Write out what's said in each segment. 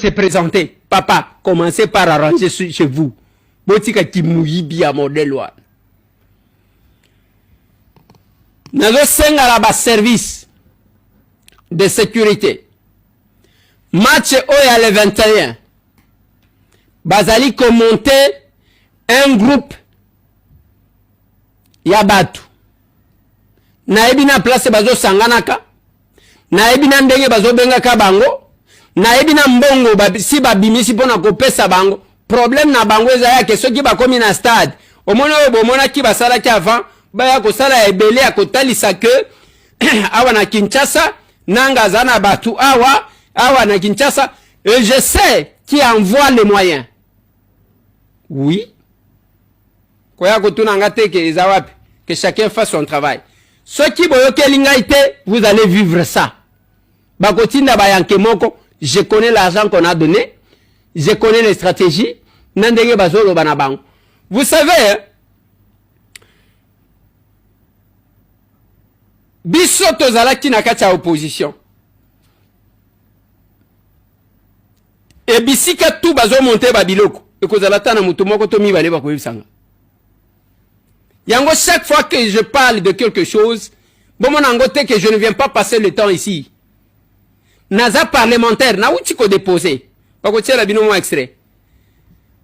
se presenter papa commencez par arranger chez vous botika kimuyibi ya modèle wana nazosengala baservice de sécurité match oyo ya le 21 bazali komonte un groupe ya bato nayebi na place bazosanganaka nayebi na ndenge bazobengaka bango nayebi na mbongo si babimisi mpo na kopesa bango problème na bango eza yake soki bakomi na stade omoni oyo bomonaki basalaki avant baya kosala ya ebele ya kotalisa ke awa na kinshasa nanga aza na bato awa awa na kinshasa et je sais qui envoie les moyens oui koya kotuna nga te ke eza wapi que chacun fasse son travail soki boyokeli ngai te vous allez vivre ça bakotinda bayanke moko je connais l'argent qu'on a donné je connais les stratégies na ndenge bazoloba na bango vous savez biso tozalaki na kati ya opposition e bisika tu bazo monte ba biloko ekozala ata na moto moko to mibale bakoyebisanga yango chaque fois que je parle de quelque chose bomona yango te que je ne viens pas passer le temps ici naza parlementaire nauti kodepose bakotiela bino mwa extrait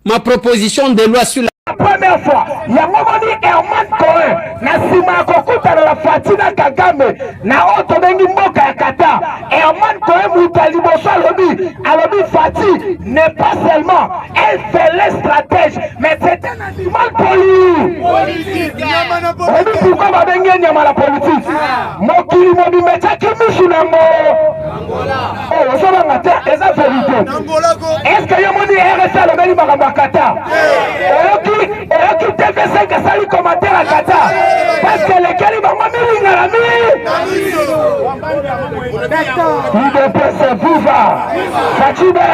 ma proposition de loi sur la première fois yango moni herman cohen na nsima ya kokutana na fati na kagame na oyo tobengi mboka ya kata herman cohen moto ya liboso alobi alobi fati n'est pas seulement elle fait les stratège mais c'est un animal politique pourquoi babengi ye nyama na politique ah. mokili mobimba etyaki misu na yango ozobanga te eza verité eske yo moni rs alobeli makambo ya kata oyoki oyoki tv5 asali commentaire ya kata parceke elekeli bango milingana mi idps viva facibe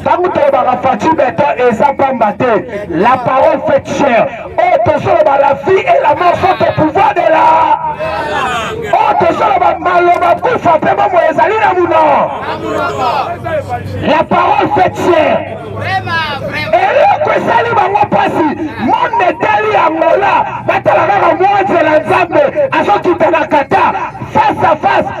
ntango tolobaka faci beton eza pamba te la parole fait cher oyo oh, tozoloba la vie et la mort sont au pouvoir de la oyo oh, tozoloba maloba kufa mpe bomoi ezali na muno la parole fait cher eloko esali bango mpasi monde etali yangola batala kaka mwanzela nzambe azokita na kata face à face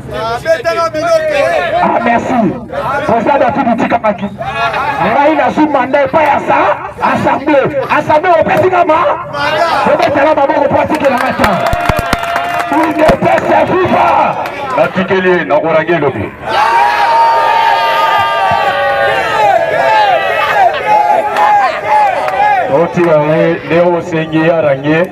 Ah, merci président david itikamaki ngai nazwi manda epai ya sa assemblée assemblée opesi nga ma obetala maboko mpo atikela nga ta udps ya fifa natikeli ye nakorangi elobi otika ye nde osengi arangi ye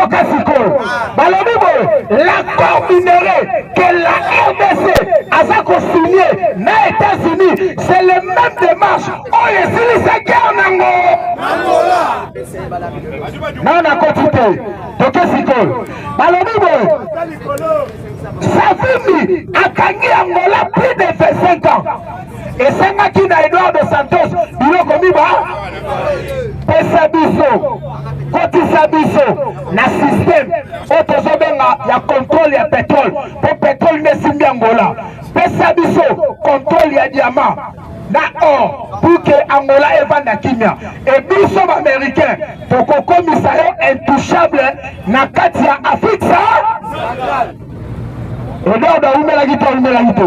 yoka sikoyo balobi boye l'accord minere que la rdc aza kosigne na états-unis c'est le même démarche oyo esilisa guerre nango nao nakoti te toke sikoyo balobi boye savimbi akangi angola plus de 25 ans esengaki na Eduardo Santos biloko miba pesa biso kotisa biso na système oyo tozobenga ya contrôle ya pétrole mpo pétrole nde esimbi angola pesa biso contrôle ya diamant na or pour que angola evanda kimia e biso baaméricain tokokomisa yo intouchable na kati ya afrique sa Edward awumelaki to awumelaki te?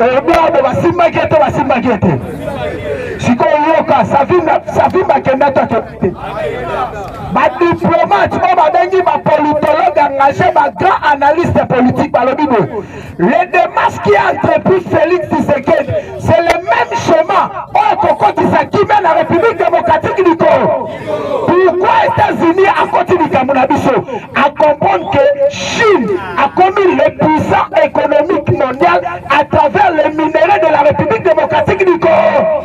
Edward basimbaki ete basimbaki ete sikoyo yoka savimba akenda to akenda te badiplomate oyo babengi bapolitologue engage bagrand analyste politique balobi boye le demarche qui a entrepris félix tshisekedi c'est le même chemin oyo kokotisa kimia na république démocratique du congo pourquoi états-unis akoti likambo na biso acomprendre que chine akomi le puissant économique mondial à travers les minerais de la république démocratique du congo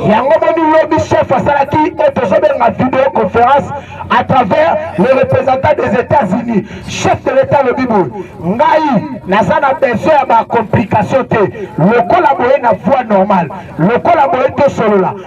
yango moni lobi chef asalaki oyo tozobenga video conférence à travers le représentant des états-unis chef de l'état lobi boye ngai naza na besoin ya bacomplication te lokola boye na voie normale lokola boye tosolola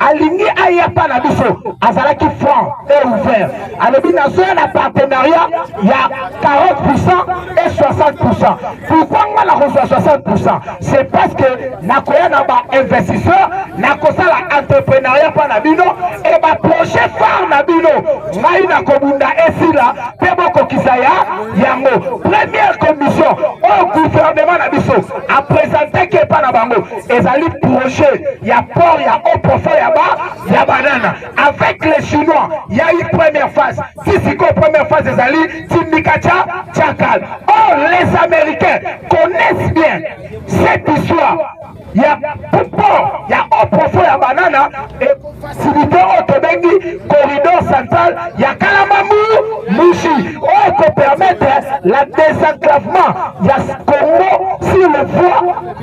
alingi aya pa na biso azalaki franc et ouvert alobi nazoya na partenariat ya 40 pourcent et 60 pourcent pourquoi nga nakozwa 60 pourcent c'est parce que nakoya na bainvestisseur nakosala entreprenariat mpa na bino e baprojet phare na bino ngai nakobunda esila mpe bokokisa ya yango première commission oyo gouvernement na biso apresentaki epa na bango ezali projet ya port ya haut profond ya ba ya banana avec les chinois ya eu première phase ti sikoyo première phase ezali tindika cha chakal or les américains connaissent bien cette histoire ya port ya haut profond ya banana efacilité oyo tobengi corridor central ya kalamamu mushi oyo ekopermettre la désenclavement ya congo sur le voie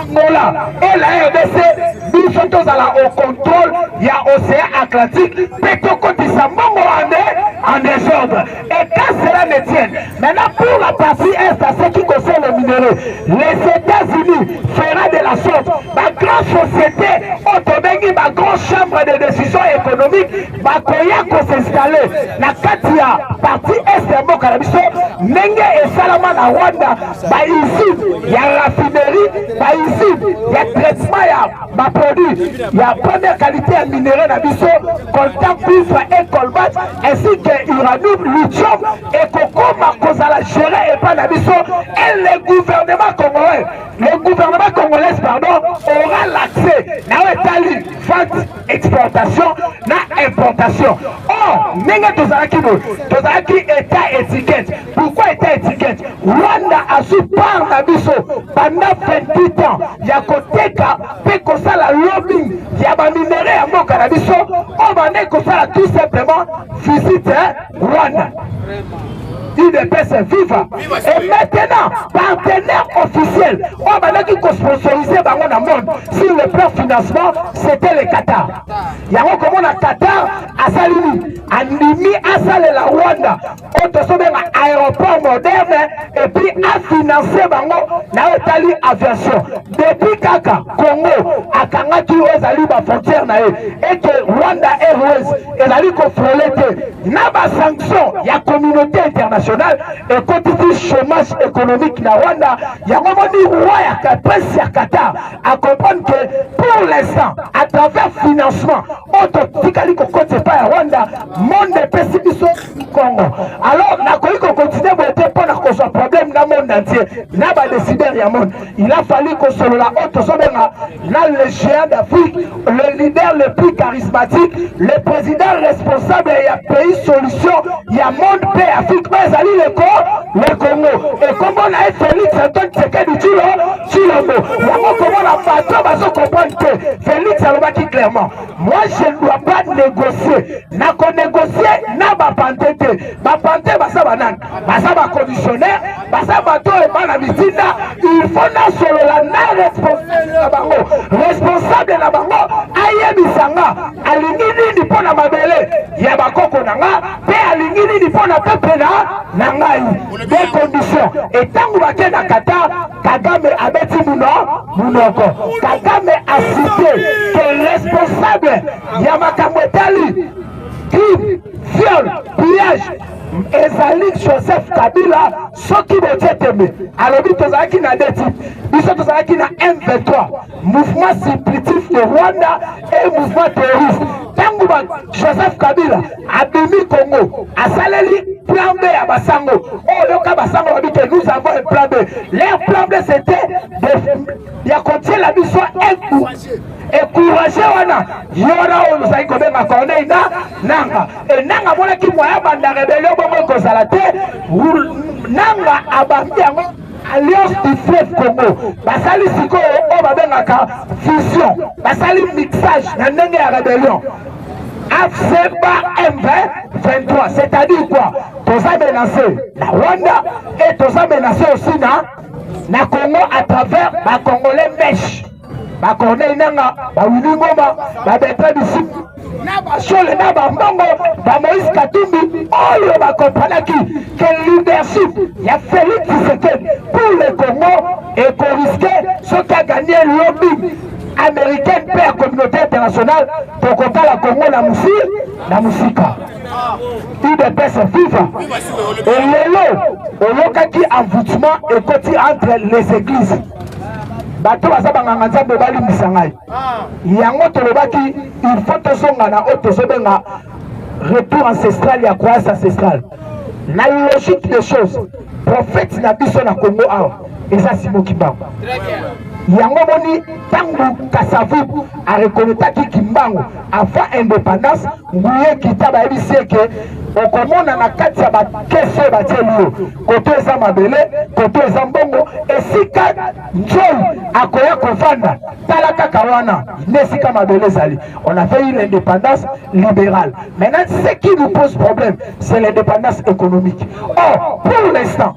Angola et la RDC biso tozala au contrôle ya océan Atlantique mpe tokotisa mbongo ande en désordre et quand cela ne tienne maintenant pour la partie est à ceux qui concerne le minerai les États-Unis fera de la sorte ba grand société oyo tobengi ba grand chambre de décision économique bakoya kosinstalle na kati ya partie est ya mboka na biso ndenge esalama na Rwanda bausine ya raffinerie bausine ya traitement ya baproduit ya première qualité ya minerai na biso coltan cuivre et colbat ainsi que uranium lithium ekokoma kozala gere epai na biso et le gouvernement congolais le gouvernement congolais pardon aura l'accès na oyo etali vente exportation na importation or ndenge tozalaki boye tozalaki etat étiquette Pourquoi était étiquette Rwanda azwi part na biso banda 28 ans ya koteka mpe kosala lobbying ya baminere ya mboka na biso oyo bandai kosala tout simplement visite Rwanda. UDPS viva et maintenant partenaire officiel oyo bandaki kosponsorize bango na monde sur le plan financement c'était le Qatar yango komona Qatar asali nini andimi asalela Rwanda oyo tozobenga aéroport moderne epuis afinance bango na oyo etali aviation depuis kaka congo akangaki oyo ezali bafrontière na ye ete rwanda airways ezali kofrole te na basanction ya communauté internationale ekotisi chômage économique na rwanda yango moni roi ya prince ya qatar acomprendre que pour l'instant à travers financement oyo totikali kokota epai ya rwanda monde epesi biso kongo alors nakoki kokontinue boye te mpo na kozwa problème na monde entier na badesider ya monde il a fallu kosolola oyo tozobenga na le géant d'afrique le leader le plus charismatique le président responsable ya pays solution ya monde mpe afrique oyo ezali leko le congo ekombo na ye félix antoine tsekedi tshilo Tshilombo yango komona bato bazo comprendre que Felix alobaki clairement moi je ne dois pas négocier na ko négocier na bapante te bapante baza banani baza bacommissionnaire baza bato oyo bana mitinda il faut nasolola na responsable na bango responsable na bango ayebisa nga alingi nini mpo na mabele ya bakoko na nga mpe alingi nini mpo na pepe na ngai Des conditions. Et tant que vous na Qatar, Kagame a bâti Mounoko. Kagame a cité que responsable Yamakamo Tali, crime, viol, pillage, ezali joseph kabila soki botie tembe alobi tozalaki na deti biso tozalaki na m23 mouvement supplitif de rwanda e mouvement terroriste ntango joseph kabila abimi Congo asaleli plan B ya basango oyo oh, yoka basango babi te nous avons un plan B leur plan B c'était ya kotiela biso eku ekourage wana yora oyo ozali kobenga corneille na nanga e nanga amonaki moya banda rebelio bongo ekozala te nanga abambi yango Alliance du fleuve Congo basali sikoyo oyo babengaka fusion, basali mixage na ndenge ya rebellion afcba M23 c'est-à-dire quoi toza menase na Rwanda et toza menase aussi na na Congo à travers ba congolais mesh ba Corneille Nanga, ba Willy Ngoma, ba Bertrand Bisimwa na bashole na bambongo ba Moïse Katumbi oyo bakompanaki ke leadership ya Felix Tshisekedi pour le Congo ekoriske soki aganye lobby américaine mpe ya communauté internationale tokotala Congo na mosi na mosika udps viva elelo oyokaki envoûtement ekoti entre les églises bato baza banganga nzambe balimbisa ngai yango tolobaki il faut tozonga na oyo tozobenga retour ancestral ya croyance ancestrale na logique des choses prophète na biso na congo awa eza simo kimbangu yango moni ntango kasavu arekonetaki kimbangu avant indépendance Miye kita bayebisi eke okomona na kati ya bakesi oyo batieli yo koto eza mabele koto eza mbongo esika nzoi akoya kovanda tala kaka wana nde esika mabele ezali on a fait une indépendance libérale maintenant ce qui nous pose problème c'est l'indépendance économique or pour l'instant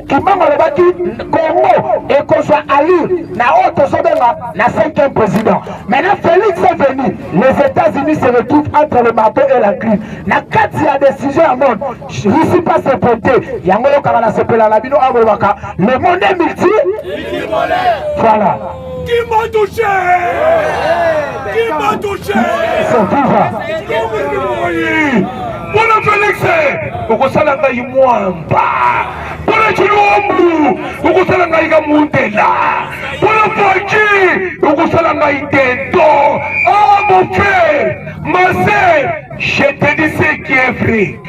Kimbangu alobaki Congo ekozwa allure na oyo tozobenga na cinquième président. Maintenant Félix est venu, les États-Unis se retrouvent entre le marteau et la griffe. Na kati ya décision ya monde, Russie pas se porter. Yango yokaka na sepela na bino abolobaka le monde est multi. Voilà. Qui m'a touché Qui m'a touché Bwana Felix okosala ngai mwamba Bwana Chilombo okosala ngai kamundela Bwana Fachi okosala ngai tento Ah mon frère ma sœur je te dis ce qui est vrai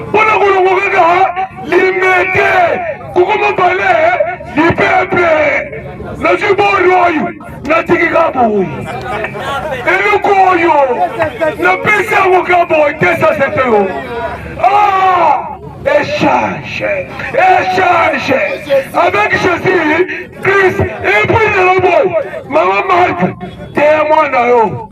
mpo na kolongo kaka limete kokoma bale lipepe nazwi bori oyo natiki kaboyi eloko oyo napesi yango kaboyi te sasete yo echange echange avec jésus christ epuis na loboyi mama marke teya mwana yo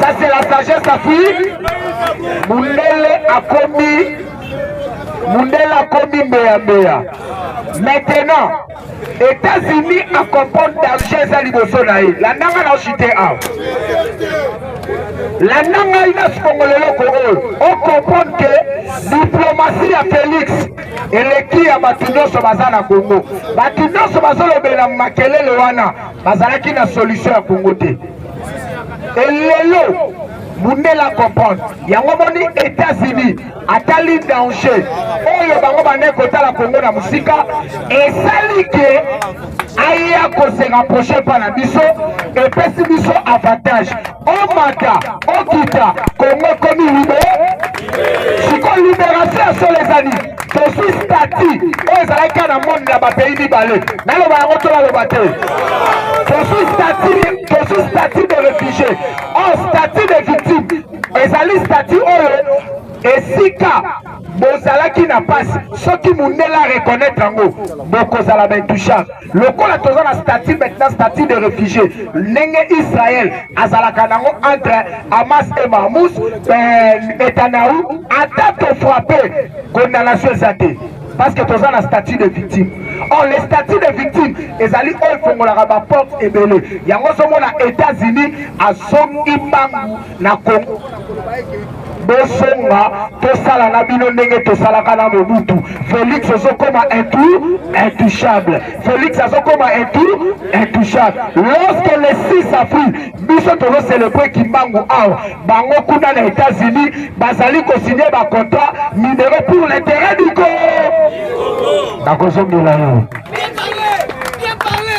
Ça c'est la sagesse d'Afrique. Mundele akomi Mundele akomi mbeya mbeya. Maintenant, États-Unis a comprendre danger eza liboso na ye. Landanga na chute awa. Landa ngai na sikongolo eloko oyo o comprendre que diplomatie ya Félix eleki ya bato nyonso baza na Congo. Bato nyonso bazolobela makelele wana bazalaki na solution ya Congo te. Et lelo mundela comprendre yango moni États-Unis atali danger oyo bango bande kotala Kongo na mosika esali ke aya kosenga prochain pa na biso epesi biso avantage omata okita Kongo ekomi libre sikoyo liberation ya solo eza nini tozwi stati oyo ezalaki kaka na monde ya bapays mibale naloba yango to baloba te tozwi stati tozwi stati de réfugié or oh, stati de victime ezali stati oyo esika bozalaki na mpasi soki mondele areconnaitre yango bokozala baintouchable lokola toza na statut maintenant statut de réfugié ndenge israël azalaka nango entre hamas et mahmous euh, netanyahu ata tofrappe condamnation eza te parce que toza na statut de victime or le statut de victime ezali oyo efongolaka baporte ebele yango ozomona états-unis azongi mbangu na Congo mpona koloba ete bozonga tosala na bino ndenge tosalaka na mobutu félix ozokoma intou intouchable félix azokoma intou intouchable lorsque le 6 avril biso tozocelebre kimbangu awa bango kuna na états-unis bazali kosigne bacontrat minero pour l'intérêt du co nakozongela yo Bien parlé, bien parlé.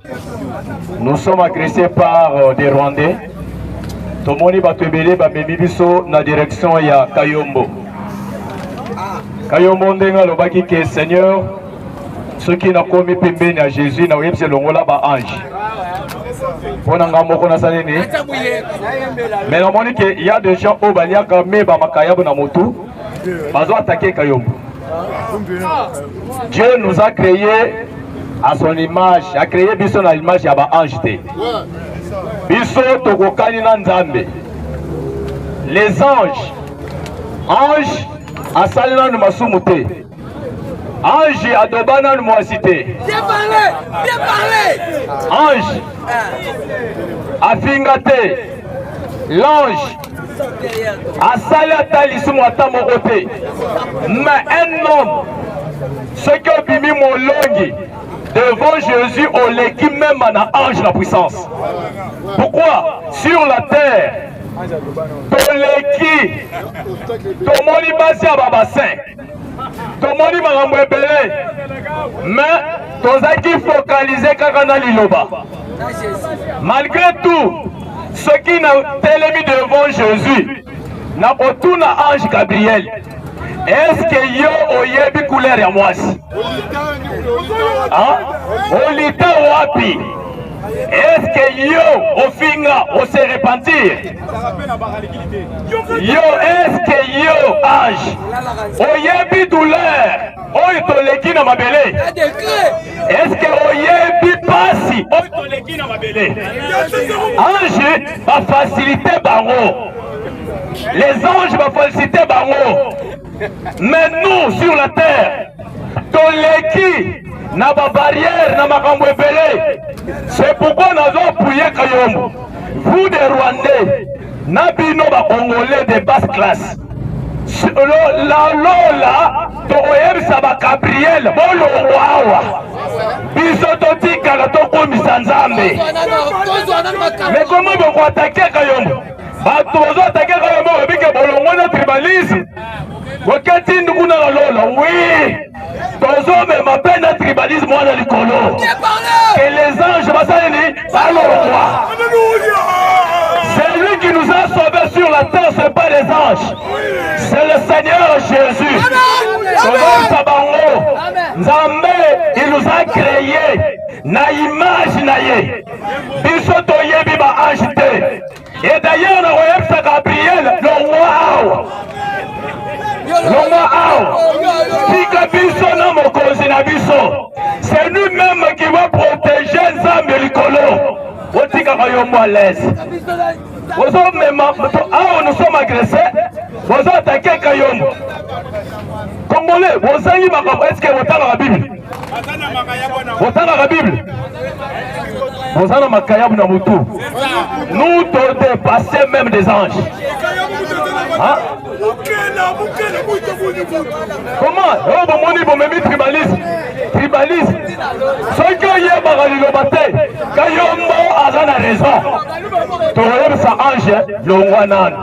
Nous sommes agressés par euh, des Rwandais. tomoni bato ebele bamemi biso na direction ya kayombo kayombo ndenge alobaki ke seigneur soki nakomi pembeni ya jésus na oyebisi elongola baange mpo na ngai moko nasali nini me namoni ke ya de gens oyo baliaka me bamakayabo na motu bazo atake kayombo dieu nous a créé à son image a créé biso na image ya ba ange te biso tokokani na nzambe les anges ange asali nanu masumu te ange adoba nanu mwasi te ange afinga te l'ange asali ata lisumu ata moko te mais un homme soki obimi molongi devant Jésus oleki même na ange la puissance pourquoi sur la terre toleki tomoni basi ya babasin tomoni makambo ebele me tozalaki fokalize kaka na liloba malgre tout soki na telemi devant jésus na kotuna ange gabriel eske yo oyebi couleur ya mwasi olita wapi eske yo ofinga ose repentir yo eske yo age oyebi douleur oyo toleki na mabele eske oyebi pasi oyo toleki na mabele ange bafasilite bango les anges bafasilite bango Mais nous sur la terre toleki na ba barrière na makambo ebele c'est pourquoi nazo appuyer Kayombo vous des Rwandais na bino ba Congolais de basse classe la lola tokoyebisa ba Gabriel bolongwa awa biso totikala tokomisa Nzambe mais comment bokoatake Kayombo bato bazoatake kaka moko ebike bolongo na tribalisme boketi ndukuna na lola wi tozomema mpe na tribalisme wana likolo ke les anges basali nini balongwa celui qui nous a sauvé sur la terre c'est pas les anges c'est le seigneur jésus tozoyisa bango nzambe il nous a créé na image na ye biso toyebi ba ange te et d'ailleurs na koyebisa gabriel longwa awa longwa awa tika biso na mokonzi na biso c'est nous même qui va protéger nzambe likolo otikaka yo mwa lese ozomema awa nous sommes agresse bozo atake kayombo congolais bozangi makambo eske botangaka bible botangaka bible boza na makayabu na motu nous to dépasse même des anges hein? comment oyo oh, bomoni bomemi tribalisme tribalisme soki oyebaka liloba te kayombo aza na raison tokoyebisa ange longwa nanu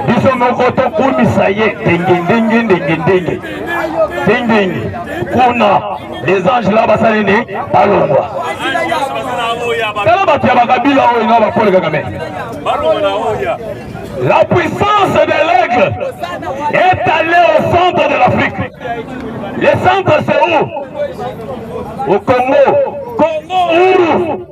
biso moko tokumisa ye ndenge ndenge ndenge ndenge ndenge kuna les anges la basali nde balongwa tala bato ya bakabila oyo na bapole kakame la puissance de l'aigle est allée au centre de l'afrique le centre c'est où au congo congo uru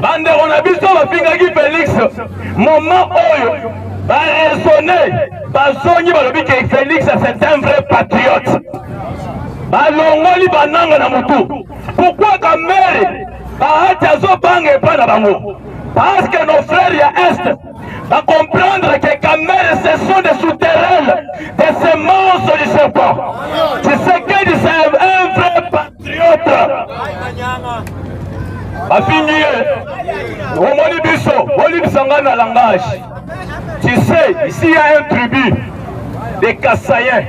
Bandeko na biso bafingaki Felix moment oyo baresone bazongi balobi ke Felix c'est un vrai patriote, balongoli bananga na motu. Pourquoi Kamerhe bahati azobanga epai na bango? Parce que nos frères ya Est ba comprendre que Kamerhe ce sont des souterraines, des semences du serpent. Tshisekedi c'est un vrai patriote. Triota bafingi ye omoni biso bolibisa ngai na langage tu sais ici ya un tribu de kasayen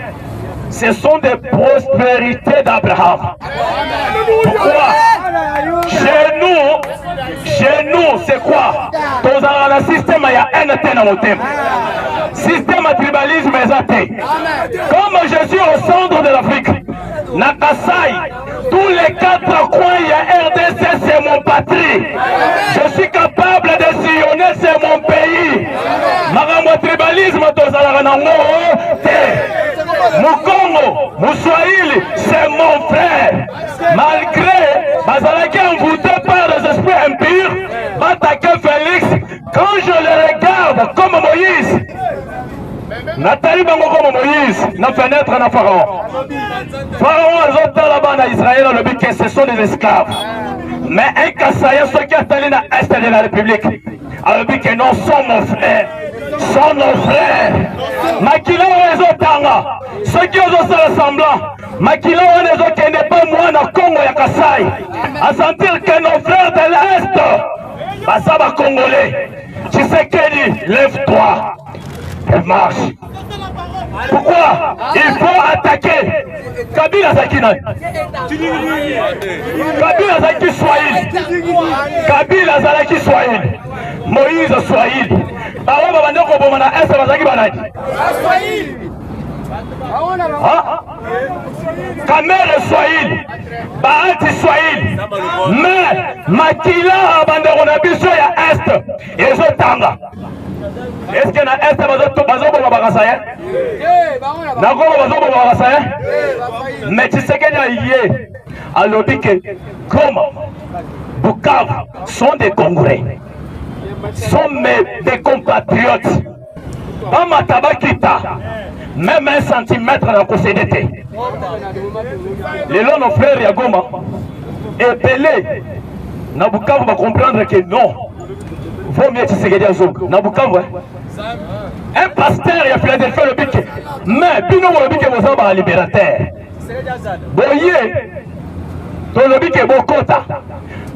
ce sont des prospérités d'abraham pourquoi chez nous chez nous c'est quoi tozalaka na systeme ya haine te na motema systeme ya tribalisme eza te comme je suis au centre de l'afrique na Kasai, tous les quatre coins ya RDC, c'est mon patrie. Je suis capable de sillonner, c'est mon pays. Makambo ya tribalisme tozalaka na ngo te. Mukongo, Muswahili, c'est mon frère. Malgré bazalaki envoûté par les esprits impurs, batake Félix. Quand je le regarde comme Moïse, natali bango koma moïse na fenetre na pharaon pharaon azotala bana israel alobi que ce sont des esclaves mais un kasaya soki atali na est de la république alobi que non sont mon frère sont nos frères makila oyo ezotanga soki ozosala semblant makila wana ezokende mpe mwana kongo ya kasai asentir que nos frères de l'est Baza ba Congolais. Tshisekedi, lève-toi et marche. Pourquoi il faut attaquer Kabila azalaki nani? Kabila azalaki Swahili. Kabila azalaki Swahili. Moïse Swahili. Baoyo babanda koboma na Est bazalaki banani? Baswahili. kamere swahili baanti swahili me makila bandeko na biso ya est ezotanga eske na est bazoboma bakasa ye na kongo bazoboma bakasa ye me tshisekedi aye alobi ke goma bukavu sont des congolais sont mes des compatriotes bamata bakita meme un centimètre na kosede te lelo no frère ya goma ebele na bukavu bacomprendre ke non vaut mieux tshisekedi azonga na bukavu un pasteur ya philadelphie alobi ke mais bino bolobi ke boza balibérateur boye tolobi ke bokota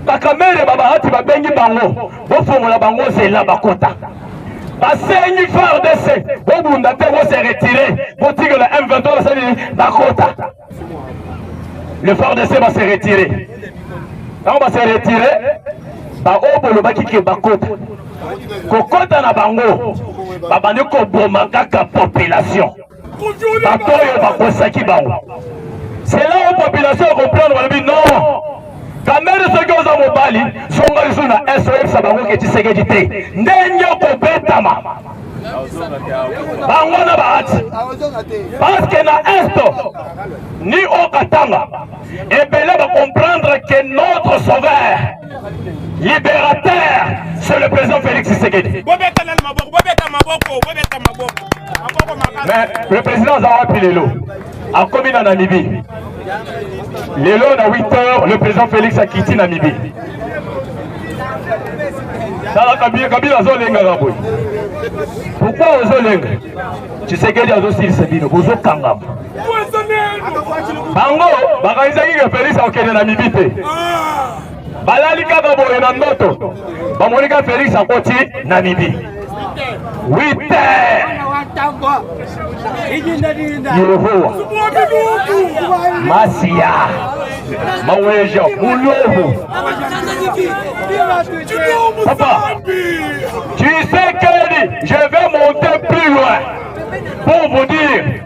bakamere babahati babengi bango bofongola bango nzela bakota basengi fardc bobunda te bose retire botikela m23 basali bakota le fardc base retire ntango base retire baoyo bolobaki ke bakota kokota na bango babandi koboma kaka population bato oyo bakosaki bango sela oyo population ya comprendre balobi non kamere soki oza mobali songa lisusu na est oyebisa bango ke tisekedi te ndenge okobetama bango na bahati parceke na est ni okatanga ebele bacomprendre ke notre sauveur libérateur c'est le président Félix Tshisekedi bobeta nanu maboko bobeta maboko bobeta maboko maboko makasi mais le président aza wapi lelo akomi na Namibie lelo na 8 heures le président Félix akiti Namibie tala kabila kabila azolengaka boye pourkoi ozolenga tshisekedi azosilisa bino bozokangama bango bakanisaki ke felix akokende na mibi te balali kaka boye na ndoto bamoni ka felix akoti na mibi wite yehowa masiya maweja mulovu papa tu sais que je vais monter plus loin pour vous dire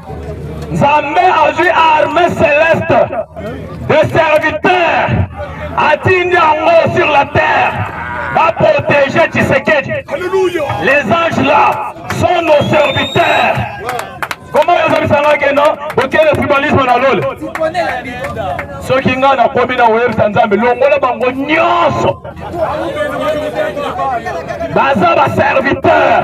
Nzambe azwi arme celeste de serviteur atindi yango sur la terre va protéger Tshisekedi. Les anges là sont nos serviteurs. Comment ils ont ça que non Ok, le tribalisme dans l'ol. Ceux qui n'ont pas promis dans Web Sanzambe, l'ongola bango nyonso. Baza ba serviteur.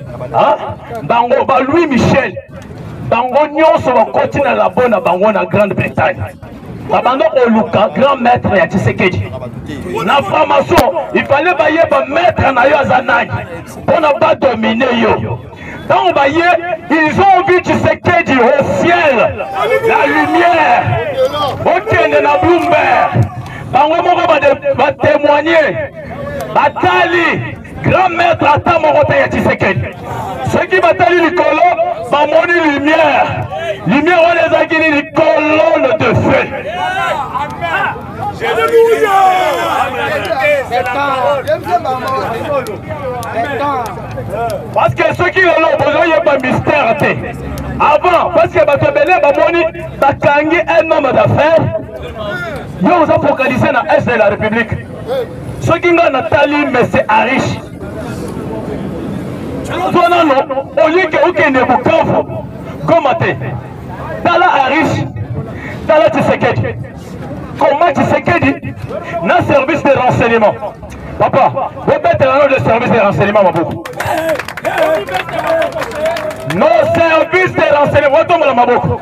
bango ba Louis Michel bango nyonso bakoti na labo na bango na Grande Bretagne babanda koluka grand maître ya Tshisekedi na franc-maçon il fallait bayeba maître na yo aza nani mpo na badomine yo ntango baye ils ont vu Tshisekedi au ciel la lumière okende na Bloomberg bango moko batémoigne batali Grand maître ata moko te ya Tshisekedi. Soki batali likolo bamoni lumière. Lumière wana ezalaki nini? Colonne de feu. Parce que soki lelo bozoyeba mystère te avant parce que bato ebele bamoni bakangi un homme d'affaires yo oza focalise na est de la république soki nga natali mese arish tozwa nano olike okende bukavu goma te tala arish tala tshisekedi koma tshisekedi na service de renseignement papa bobetela no de service de renseignement maboko no service de renseignement watombola maboko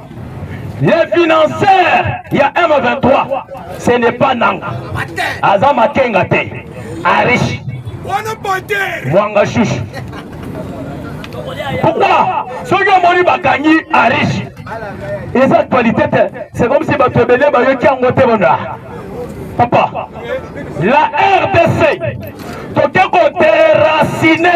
Le financeur ya M23 ce n'est pas Nanga. Aza makenga te. Arish. Mwanga shush. Pourquoi soki omoni bakangi Arish eza actualité te c'est comme si bato ebele bayoki yango te bona papa la rdc toke koterasine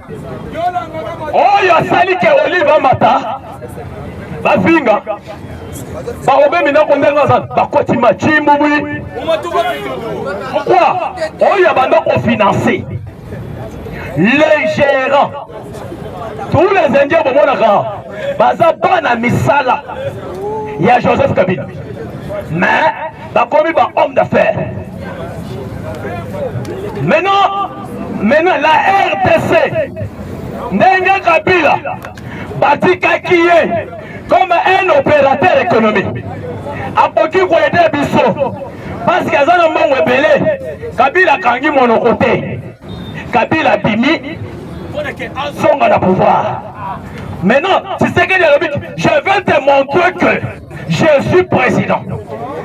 oyo asali ke olive amata bafinga baobemi nako ndenge aza bakoti macimbubwi pourkoi oyo abanda kofinanse le gérant tous les indiens bomonaka baza bana misala ya joseph kabila mais bakomi ba homme d'affaires maintenant maintenant la rdc ndenge kabila batikaki ye comme un opérateur économique akoki koyede biso parceke aza na mbongo ebele kabila akangi monoko te kabila abimi mpona ke azonga na pouvoir maintenant tshisekedi alobi je veux te montrer que Je suis président.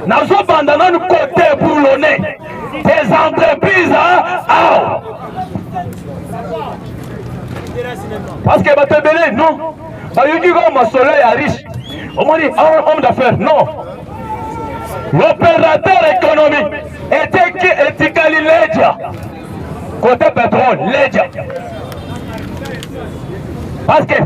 nazobanda nanu kote boulone des entreprises awa parce que bato ebele non bayoki kaka masolo ya riche omoni homme d'affaires non l'opérateur économique eteki etikali leja kote pétrole leja parce que